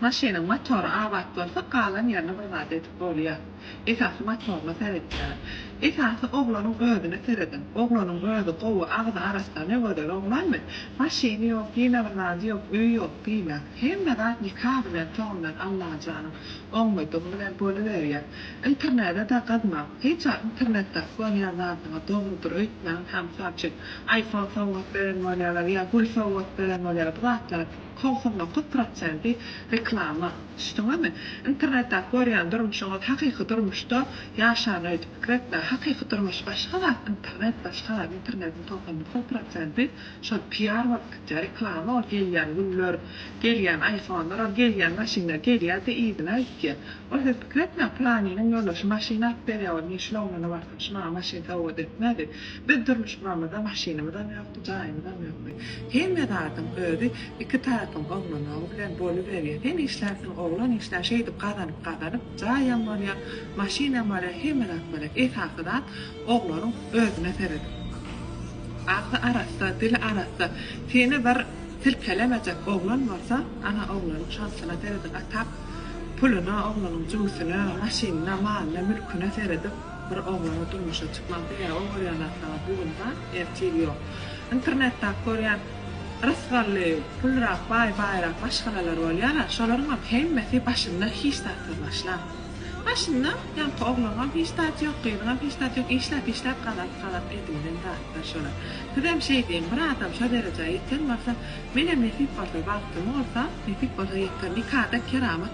Maşynyň motory abat bolsa galan ýerine bir zat edip bolýa. Esasy motoryna seretýäler. Esasy oglanyň özüne serediň. Oglanyň özi gowy, agzy arassa, ne gözel oglanmy? Maşyny ýok, ýene bir zady ýok, öýi ýok diýmäň. Hemme zat nika bilen, toň bilen Allajanyň oňmadygy bilen boluberýä. Internede-de gyzmaň. Hiç wagt internetde uklanyýan zadyňyz dogrudyr öýtmäň. Hä mysal üçin, iPhone sowgat beren bolýalar ýa gül sowgat beren bolýalar. Bu zatlar. Togsan dokuz prosenti reklama. Düşdüňizmi? Internetdäki görýän durmuşyňyz hakyky durmuşda ýaşan öýdüp pikir etme. Hakyky durmuş başga zat, internet başga zat. Internetiň togsan dokuz prosenti şol PR bolup gitýär, reklama ol gelýän güller, gelýän aýfonlar, ol gelýän maşynlar gelýär-de yzyna gitýär. Ol siz pikir etmäň, pylanynyň ýoldaşy maşyn alyp berýär, ol men şul oglana barsam şu maňa maşyn sowgat etmedi. Biz durmuş guramyzda maşynymyzam ýokdy, jaýymyzam ýokdy. Hemme zadyň özi iki taýpyň oglanagy bilen boluberýär. Sen işlärsiň, oglan işlär, şeýdip gazanyp-gazanyp, jaýam bolýar, maşynam bolýar, hemme zat bolýar. Esasy zat oglanyň özüne seredip, agzy arassa, dili arassa, seni bir silkelemejek oglan bolsa, ana, oglanyň şansyna seredip, atap, puluna, oglanyň jübüsine, maşynyna, malyna, mülküne seredip, bir oglana durmuşa çykmak dünýä ol görýän zatlaryň bu gün bar, ertir ýok. Internetdäki görýän rysgally, pulrak, baý, baýrak maşgalalar bolýar-a, şolaryňam hemmesi başynda hiç zatsyz başlan. Başynda ýaňky ogluňam hiç zat ýok, gyzyňam hiç zat ýok, işläp, işläp gazalyp, gazalyp edinilen zatlar şolar. Sizem şeý diýiň, bir adam şo derejä ýeten bolsa, menem nesip bolsa, bagtym bolsa, nesip bolsa ýeter. Nikada keramat.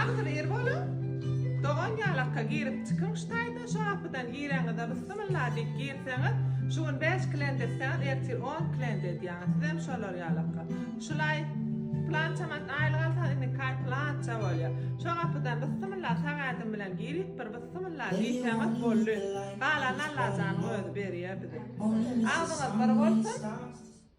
Agzyny ir boluň. Dogan ýalakka girip çykyň şu taýdan şu gapydan gireňizde bysymylla diýip girseňiz şu gün bäş klient etseňiz ertir on klient edýäňiz sizem şolar ýalakka şulaý plança manat aýlyk alsaňyz indi kaý plança bolýa şo gapydan bysymylla sag ädim bilen girip bir bysymylla diýseňiz boldy galany Allajanyň özi berýä bize agzyňyz bir bolsun